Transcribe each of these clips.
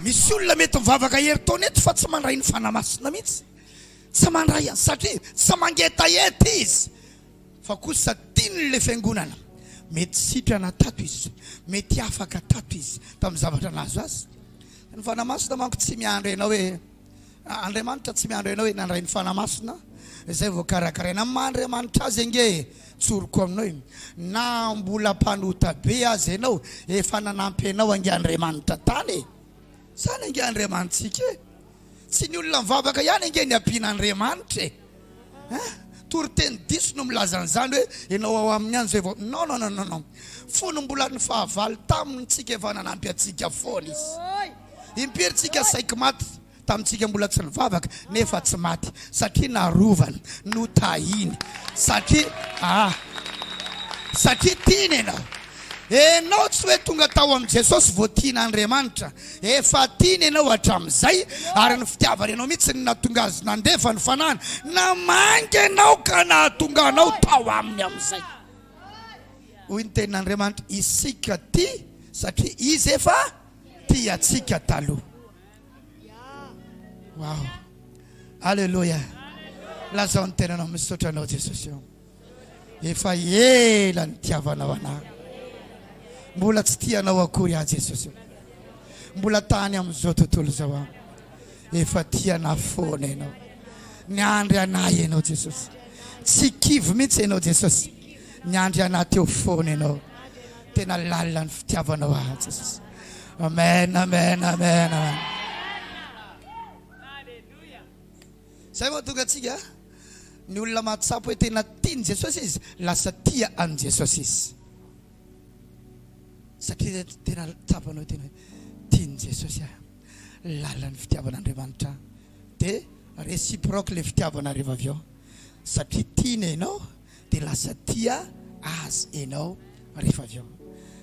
Misy olona mety mivavaka herintaona eto fa tsy mandray ny Fanahy Masina mihitsy. Tsy mandray azy satria tsy mangetaheta izy fa kosa tiany ilay fiangonana. Mety sitrana tato izy, mety afaka tato izy tamin'ny zavatra nahazo azy. Ny Fanahy Masina manko tsy miandry anao hoe Andriamanitra tsy miandry anao handray ny Fanahy Masina izay vao karakaraina. Amin'ny maha Andriamanitra Azy ange tsoriko aminao e! Na mbola mpanota be aza ianao efa nanampy anao ange Andriamanitra tany e! Izany ange Andriamanitsika e! Tsy ny olona mivavaka ihany ange ny ampian'Andriamanitra e! Hein? Toriteny diso no milaza an'izany hoe ianao ao aminy any izay vao non non non non non! Fony mbola ny fahavalo taminy tsika efa nanampy antsika foana Izy. Impiry tsika saiky maty tamintsika mbola tsy nivavaka nefa tsy maty satria narovany, notahiny satria ah satria tiany ianao. Enao tsy hoe tonga tao amin'i Jesosy vao tian'Andriamanitra, efa tiany ianao hatramin'izay ary ny fitiavany anao mihitsy no nahatonga azy nandefa ny fanahiny namangy anao ka nahatonga anao tao aminy amin'izay. Hoy ny tenin'Andriamanitra, isika tia satria izy efa tia antsika taloha. Wow. Alléluia. Lazao ny tenanao misaotra anao Jesosy eo. Efa ela ny tiavanao anah. Mbola tsy tianao akory ah Jesosy. Mbola tany amin'izao tontolo izao ah. Efa tianah foana ianao. Niandry anah ianao Jesosy. Tsy kivy mihitsy ianao Jesosy. Miandry anah teo foana ianao tena lalina ny fitiavanao ahy Jesosy Amen Amen Amen Amen Zay mahatonga antsika ny olona mahatsapa hoe tena tian'i Jesosy izy lasa tia an'i Jesosy izy satria tena tsapanao tena tian'i Jesosy ahy lalina ny fitiavan'Andriamanitra dia réciproque le fitiavana rehefa avy eo satria tiana ianao Dia lasa tia Azy enao rehefa avy eo.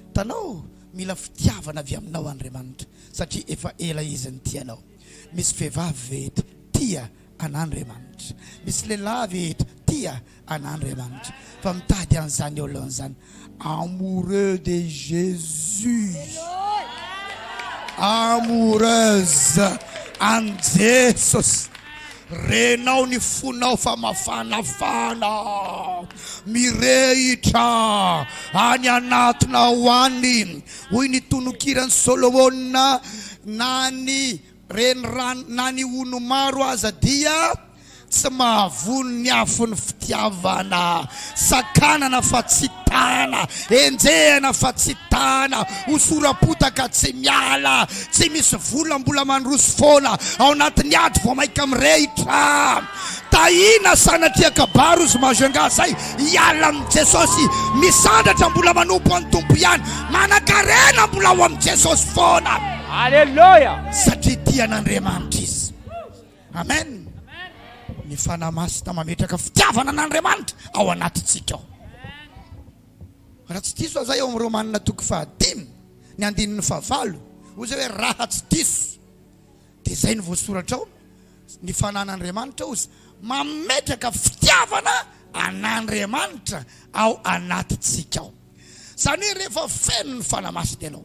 Hitanao, mila fitiavana avy aminao Andriamanitra, satria efa ela Izy nitia anao. Misy vehivavy ve eto tia an'Andriamanitra? Misy lehilahy ve eto tia an'Andriamanitra, fa mitady an'izany olona izany? Amoureux de Jesus Amoureuse an'i Jesosy Renao ny fonao fa mafanafana Mirehitra any anatinao any Hoy ny tononkiran'i Solomona Na ny Renirano na ny hono maro aza dia tsy mahavono ny afon'ny fitiavana. Sakanana fa tsy tana, enjehina fa tsy tana, hosoram-potaka tsy miala, tsy misy vola mbola mandroso foana ao anatin'ny ady vao maika mirehitra. Tahina sanatria kabary ozy mahazo angaha zay hiala amin'i Jesosy misandratra mbola manompo an'i Tompo ihany manankarena mbola ho amin'i Jesosy foana Aleloia! satria tia an'Andriamanitra izy Amen Ny Fanahy Masina mametraka fitiavana an'Andriamanitra ao anatintsika ao Raha tsy diso aho zay ao amin'i Romanina toko fahadimy ny andininy fahavalo hoy zay hoe raha tsy diso Dia izay no voasoratra ao, Ny fanan'Andriamanitra ozy mametraka fitiavana an'Andriamanitra ao anatintsika ao. Izany hoe rehefa feno ny Fanahy Masina ianao,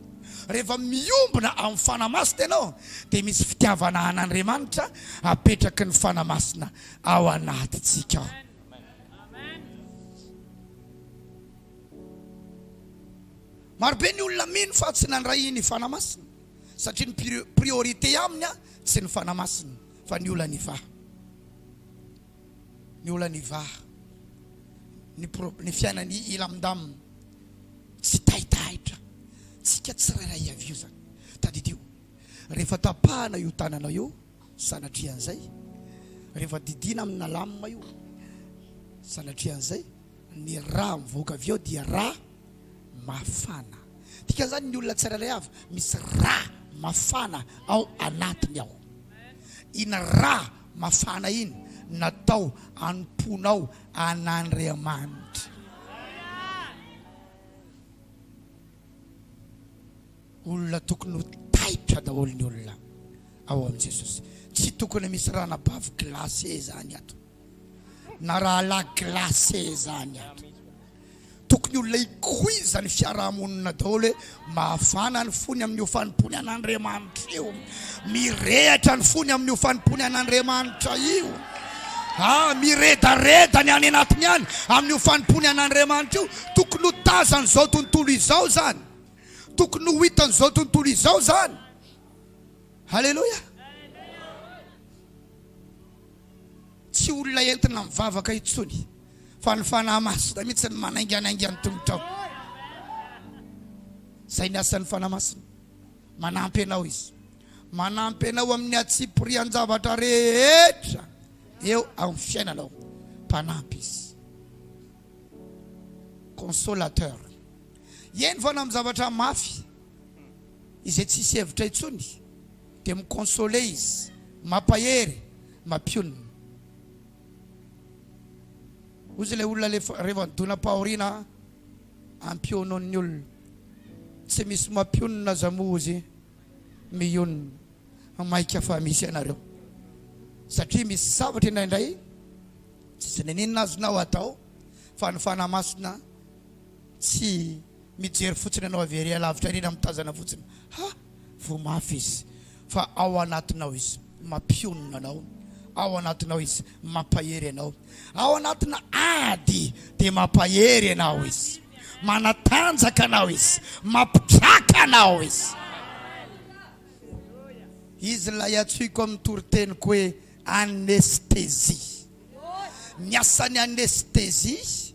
rehefa miombona amin'ny Fanahy Masina ianao, dia misy fitiavana an'Andriamanitra apetraky ny Fanahy Masina ao anatintsika ao. Marobe ny olona mino fa tsy nandray ny Fanahy Masina. satria ny priorité aminy tsy ny fanahy masina fa ny olan'ny va ny olan'ny va ny pro ny fiainan'ny ilamdam tsy taitaitra tsika tsirairay avy io zany tadidio rehefa tapahana io tanana io sanatrian'izay rehefa didina amina lamina io sanatrian'izay Ny rà mivoaka avy ao dia rà mafana. Dikan'izany, ny olona tsirairay avy misy rà mafana ao anatiny ao. Iny rà mafana iny natao hanompoanao an'Andriamanitra. Olona tokony ho taitra daholo ny olona ao amin'i Jesosy. Tsy tokony misy ràna bavy glacé izany ato. na rahalahy glacé zany ary. Tokony ho laikoiza ny fiarahamonina daholo hoe mafana ny fony amin'io fanompoany an'Andriamanitra io, mirehatra ny fony amin'io fanompoany an'Andriamanitra io. Ah, miredareda ny any anatiny any amin'io fanompoany an'Andriamanitra io. Tokony ho tazan'izao tontolo izao zany. Tokony ho hitan'izao tontolo izao zany. Haleloia. Tsy olona entina mivavaka intsony fa ny fanahy masina mihitsy no manainganainga ny tongotrao. Izay ny asan'ny fanahy masina. Manampy anao izy. Manampy anao amin'ny hatsipirian-javatra rehetra eo amin'ny fiainanao. Mpanampy izy. Consolateur. Eny fa na amin'ny zavatra mafy izay tsisy hevitra intsony. Dia mi consoler izy. Mampahery, mampionona. Hozy ilay olona lefa rehefa midonam-pahoriana ampionon'ny olona. Tsy misy mampionona aza moa hozy mionona. Maika fa misy ianareo. Satria misy zavatra indraindray tsy n'inon'inona azonao atao fa ny Fanahy Masina tsy Mijery fotsiny ianao avy ery alavitra ery na mitazana fotsiny, ha! voa mafy izy fa ao anatinao izy, mampionona anao, ao anatinao izy, mampahery anao, ao anatina ady dia mampahery anao izy, manatanjaka anao izy, mampitraka anao izy. Izy ilay antsoiko amin'ny toriteniko hoe anesthésie. Ny asan'ny anesthésie.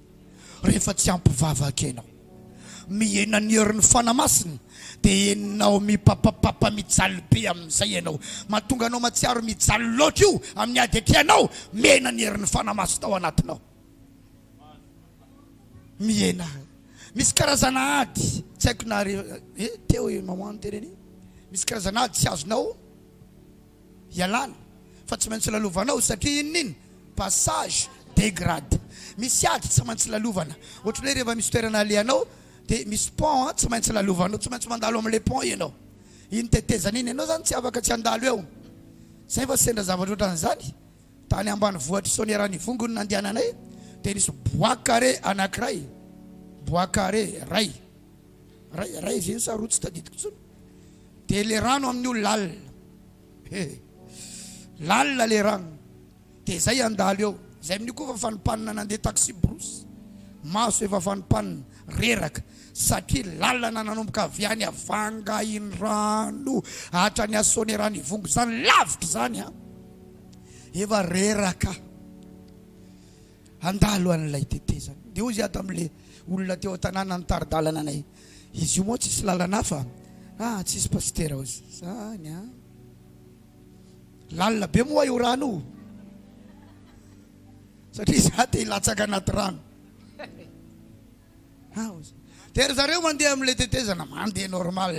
rehefa tsy ampy vavaka ianao. Mihena ny herin'ny Fanahy Masina dia henonao mipapapapa mijaly be amin'izay ianao. Mahatonga anao mahatsiaro mijaly loatra io amin'ny ady atianao mihena ny herin'ny Fanahy Masina ao anatinao. Mihena. Misy karazana ady tsy haiko na re eh teo i maman teny anie misy karazana ady tsy azonao ialana fa tsy maintsy lalovanao satria inona iny passage de grade misy ady tsy maintsy lalovana ohatry ny hoe rehefa misy toerana alehanao dia misy pont an tsy maintsy lalovanao tsy maintsy mandalo amin'ilay pont ianao iny tetezana iny ianao zany tsy afaka tsy handalo eo zay fa sendra zavatra ohatran'izany tany ambany vohitr'i Soaniaranivongo no nandehananay dia nisy bois carré anankiray bois carré ray ray ray ve sa roa tsy tadidiko intsony dia le rano amin'io lalina he lalina le rano dia zay andalo eo zay amin'io koa efa fanimpanina nandeha taxi brousse maso efa fanimpanina reraka satria lalana nanomboka avy any avangahindrano hatrany asonerano ivongo zany lavitra zany a efa reraka Handalo an'ilay tetezana. Dia hoy izy tamin'ilay olona teo an-tanàna nitari-dalana anay, Izy io moa tsisy lalana hafa? Ah, tsisy pasitera ao izany an! Lalina be moa io rano io, satria izaho te hilatsaka anaty rano. Ah, hoy izy. Dia ry zareo mandeha amin'ilay tetezana, mandeha normal.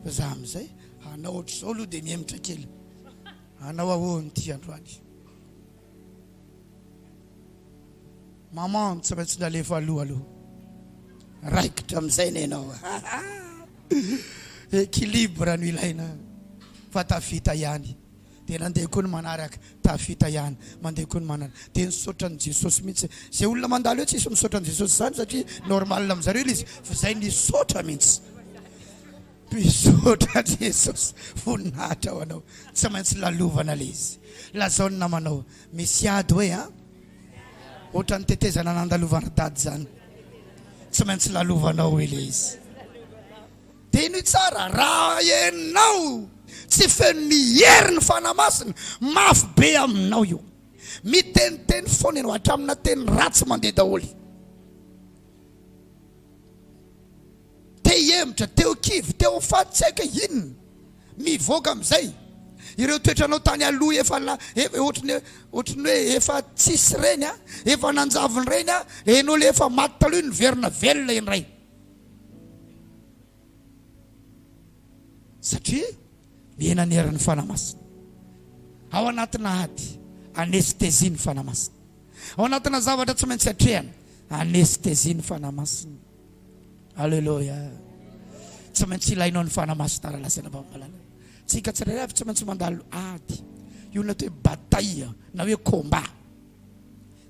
Fa izaho amin'izay, hanao hoatr'izao aloha dia mihemotra kely. Hanao ahoana ity androany? Maman tsy maintsy nalefa aloha aloha raikitra amin'izay ny anao equilibre no ilaina fa tafita ihany dia nandeha koa ny manaraka tafita ihany mandeha koa ny manaraka dia nisaotra an'i Jesosy mihitsy izay olona mandalo eo tsisy misaotra an'i Jesosy izany satria normal amin'izareo ilay izy fa izay nisaotra mihitsy Misaotra Jesosy voninahitra ho anao tsy maintsy lalovana le izy lazao ny namanao misy ady hoe a ohatran'ny tetezana nandalovana dady zany tsy maintsy lalovanao hoe le izy de ny tsara raha enao tsy feno ny heriny fana masina mafy be aminao io miteniteny foana ianao hatramina teny ratsy mandeha daholo Te hihemotra, te ho kivy, te ho faty tsy haiko hoe inona. Mivoaka amin'izay ireo toetranao tany aloha efa ohatran'ny hoe ohatran'ny hoe efa tsisy ireny a! Efa nanjavona ireny a! Ianao ilay efa maty taloha io niverina velona indray. Satria mihena ny herin'ny Fanahy Masina. Ao anatina ady, anesthésie ny Fanahy Masina. Ao anatina zavatra tsy maintsy atrehana, anesthésie ny Fanahy Masina. Aleloia. Tsy maintsy ilainao ny fanahy masina raha lazaina fa mahalala. Tsika tsirairay avy tsy maintsy mandalo ady. Io na hoe bataille na hoe combat.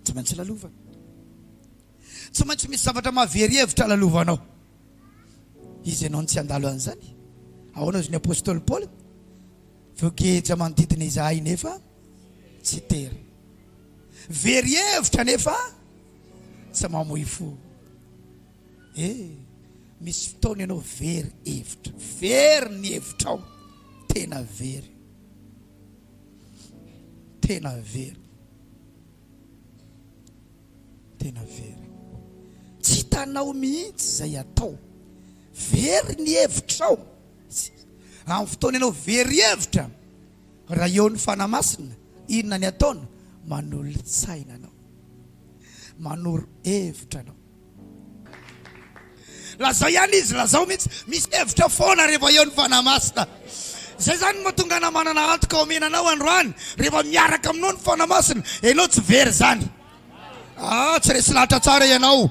Tsy maintsy lalovana. Tsy maintsy misy zavatra mahavery hevitra lalovanao. Izy ianao no tsy handalo an'izany. Ahoana hozy ny apostoly Paoly? Voageja manodidina izahay nefa tsy tery. Very hevitra nefa tsy mamoy fo. E, misy fotoana ianao very hevitra, very ny hevitrao, tena very, tena very. tena very tsy hitanao mihitsy izay atao very ny hevitrao amin'ny fotoana ianao very hevitra Raha eo ny Fanahy Masina, inona ny ataony? Manolo-tsaina anao. Manoro hevitra anao. Lazao ihany izy, lazao mihitsy. Misy hevitra foana rehefa eo ny Fanahy Masina. Izay zany no mahatonga anao manana antoka omena anao androany. Rehefa miaraka aminao ny Fanahy Masina, ianao tsy very izany. Ah, tsy resy lahatra tsara ianao.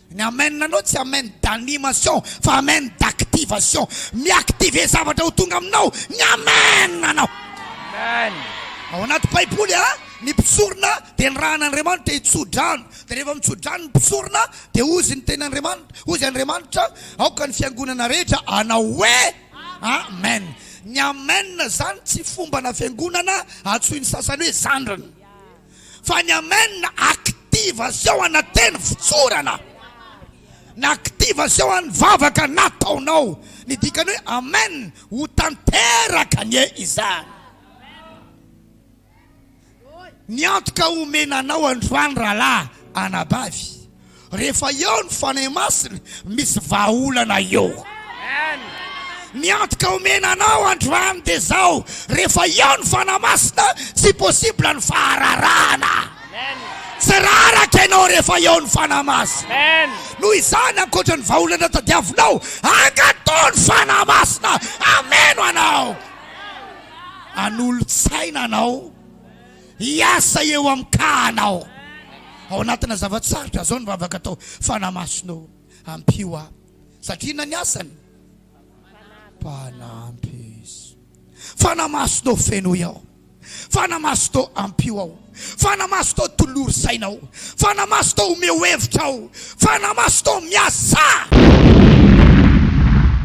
Ny amen anao tsy amen d'animation fa amen d'activation. Mi-activer zavatra ho tonga aminao ny amen anao. Amen. Ao anaty baiboly a, ny mpisorona dia nirahan'Andriamanitra hitso-drano, dia rehefa mitso-drano ny mpisorona dia hozy ny tenin'Andriamanitra, hozy Andriamanitra, aoka ny fiangonana rehetra hanao hoe amen. Ny amen zany tsy fombana fiangonana antsoin'ny sasany hoe zandriny. fa ny amen active zao anateny fitsorana na active zao any vavaka nataonao ny dikany hoe amen ho tanteraka anie izany Miantoka omena anao androany rahalahy anabavy. Rehefa eo ny Fanahy Masina, misy vahaolana eo. Ny antoka omena anao androany dia izao, rehefa eo ny Fanahy Masina, tsy possible ny fahararahana. Tsy raraka ianao rehefa eo ny Fanahy Masina. Noho izany, ankoatra ny vahaolana tadiavinao, angatò ny Fanahy Masina hameno anao, hanolo-tsaina anao. hiasa eo amin-kahanao. Ao anatina zava-tsarotra izao ny vavaka atao, Fanahy Masina o, ampio ahy. Satria inona ny asany? Mpanampy Izy. Fanahy Masina o, fenoy aho. Fanahy Masina o, ampio aho. Fanahy Masina o, tolory saina aho. Fanahy Masina o, omeo hevitra aho. Fanahy Masina o, miasà!